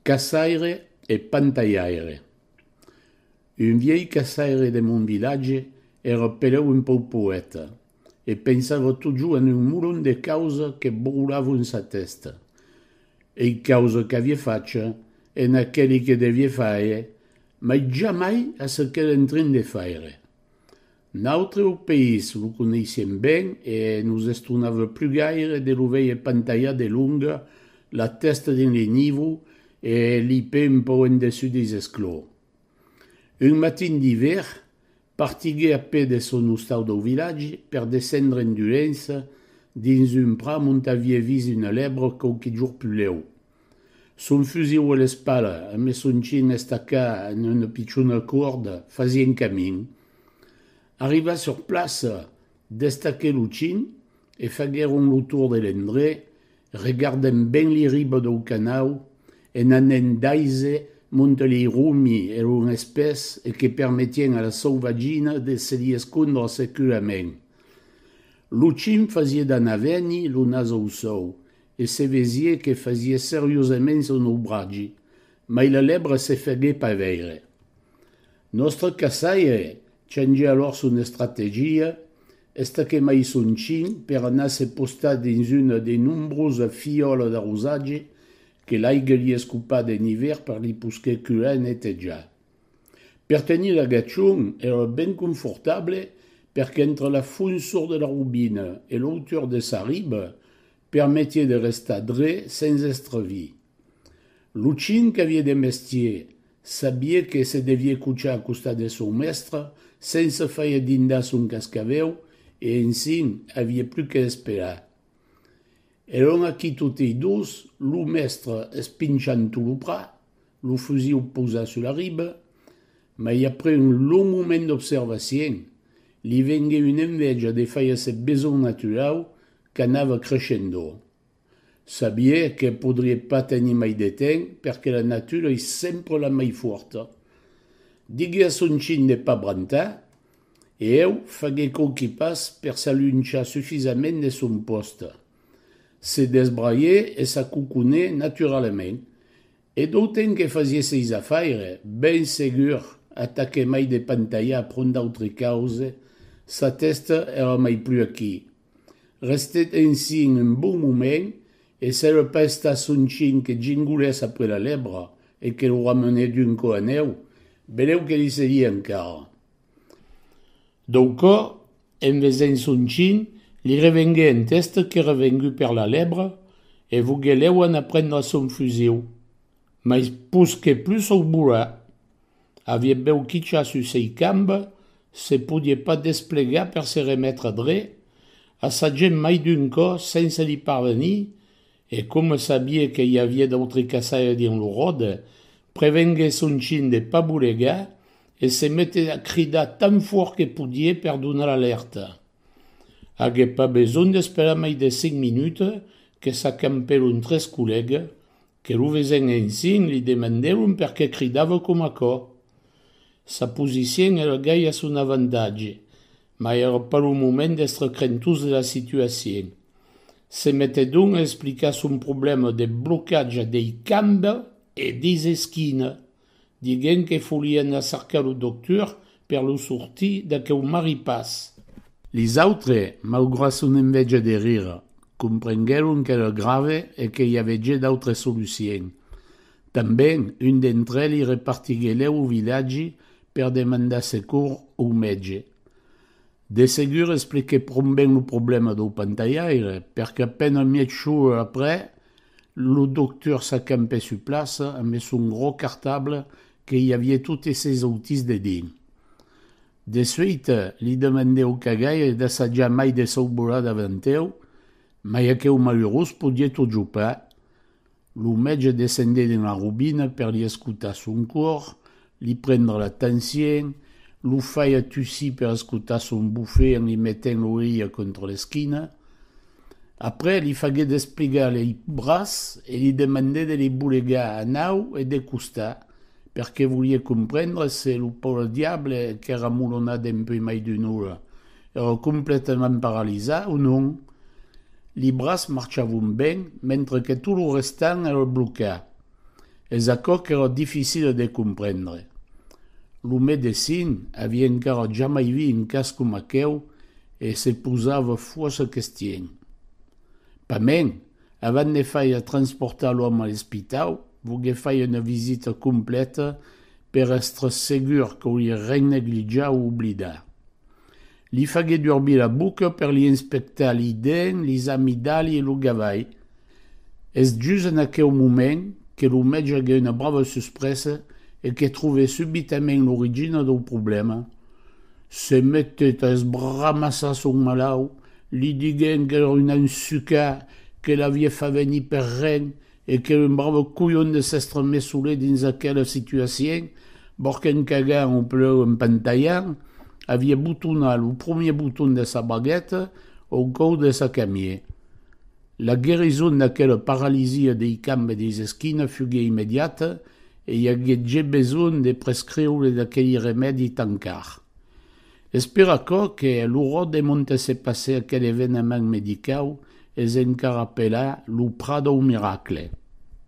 Caçaire e pantalhaire Un vièlh caçaire de mon vilatge èra peleu un pauc poèta e pensava totjorn en un molon de causa que broulavon sa tèsta. Ei causa qu'avié facha en aqueli que devié faire, mai jamai a ce qu'èra en trin de faire. Nautre au país lo coneissem ben e nos estonava plus gaire de lo veir pantalhar de longa, la tèsta dins le nivo e li pè un pauc en dessús deis esclors. Un matin d'ivèr, partiguè a pè de son ostau dau vilatge per descendre en Dulença dins un pram ont aviè vist una lèbra quauqui jorn plus lèu. Son fusiu a l'espalha, amb le son chin estacat en una pichona corda, fasien camin. Arribat sur plaça, destaquèt lo chin e faguèron lo tour de l'endrech, regardent ben li riba dau canau, en anent d'aise monte lei romi e lon espès e que permetien a la sauvagina de se li escondre securament. Lo chin fasie d'anar-veni lo nas au sòu e se vesie que fasie seriosaments un obratge, mai la lèbra se fagué pas veire. Nòstre caçaire changè alòr son estrategia, estaquè mai son chin per anar se postar dins una de nombrosa fiòla d'arrosatge que l'aiga li escopada en ivèr per li posquer curar e netejar. Per tenir l'agachon èra ben confortable perque entre la fonsor de la robina e l'autor de sa riba permetie de restar dre sens èstre vi. Lo chin qu'avie de mestier, sabie que se devie cochar a costat de son mèstre sens se faire dindar son cascavèu e ensin avie plus que esperar. Èron aquí totei dos, lo mèstre espinchant tot lo prat, lo fusiu posat sus la riba, mai après un long moment d'observacien, li vengué una envèja de faire se besonh naturau qu'anava creishendo. Sabie que podrie pas tenir mai de temps perque la natura ei sempre la mai fuorta. Digué a son chin de pas brantar e eu fagué quauqui pas per s'alunchar sufisament de son poste. Se desbraié e s'acoconé naturalament e d'auten que fasie seis afaires, ben segur atà que mai de pantalhar pron d'autri cause, sa tèsta èra mai plus aquí, Restèt ensin un bon moment e se lo pèsta son chin que gingolèss après la lèbra e que lo ramenèt d'un cò anèu, benèu que li seguie encara. Dau cò, en vesent son chin, li revenguè en tèsta qu'èra vengut per la lèbra e voguè lèu anar prendre son fusiu, mais pus que pus o volar. Avié bèu quicha sus sei camb, se podié pas desplegar per se remetre dre, a sa gent mai d'un cò sense li parvenir, e coma sabié que i avié d'autri caçaire dins lo ròde, prevengué son chin de pas bolegar e se meté a cridar tan fòrt que podié per donar l'alèrta. Agué pas besonh d'esperar mai de cinc minutes que s'acampèron tres collègues Que lo vesé'n ensin li demandèron perqué cridava com aquò. Sa posicion èra gai a son avantatge, mas èra pas lo moment d'èstre crentós de la situacion. Se metèt donc a explicar son problèma de blocatge dei cambes e deis esquinas. diguent que folie anar cercar lo doctor per lo sortir d'aqueu maripàs. Lis autres, maugrat son enveja de rire, comprenguèron qu'èra grave e que i avètge d'autres solucien. Tanben, un d'entre elli repartiguelèu au vilatgi per demandar secors au mètge. De segur explique pron ben lo problèma dau pantalhaire, perque a pena mièg jour après, lo doctor s'acampè sur plaça ambe son grò cartable que i aviè totes ses autirs dedins. De suite, li demandè au cagaire d'assajar mai de saubolar davanteu, mai aqueu malurós podiè totjorn pas, Lo mètge descendé dins la robina per li escotar son còr, li prendre la tensién, lo faia tussir per escotar son bufé en li metent l'oreilha contra l'esquina. Après, li faguèt esplegar lei bras e li demandèt de li bolegar a nau e de costat, perque voliá comprendre se lo paure diable qu'èra molonat dempuèi mai d'una ora. Èra completament paralizat, o non? Li braç marchavon ben, mentre que tot lo restant èra blocat. Es aquò qu'èra dificila de comprendre. Lo medecin avia encara jamai vist un cas coma aqueu e se posava fòrça questions. Pas mèn, Avant de faire transportar l'òme a l'espitau, vos que fai una visita completa per èstre segur que li ren neglitjar o oblidar. Li fagué durbir la boca per li inspectar li dents, lis amidali e lo gavai. Es just en aqueu moment que lo mètge agué una brava suspresa e que trové subitament l'origina dau problèma. Se metec a esbramassar son malaut, li diguent qu'èra un ensucà, que l'avie fat venir per ren e qu'èra un brave colhon de s'èstre mes solet dins aquela situacion, bòrc en cagant o pleu en pentalhant, avie botonat lo promier boton de sa bagueta au còu de sa camie. La guerison d'aquela paralisia dei cambes e deis esquinas fuguie immediata E i aguèt je besonh de prescriure d'aqueli remèdi tan car. Es per aquò que lo ròt de Montesse passè aquel evenament medicau es encara apelà lo Prat dau Miracle.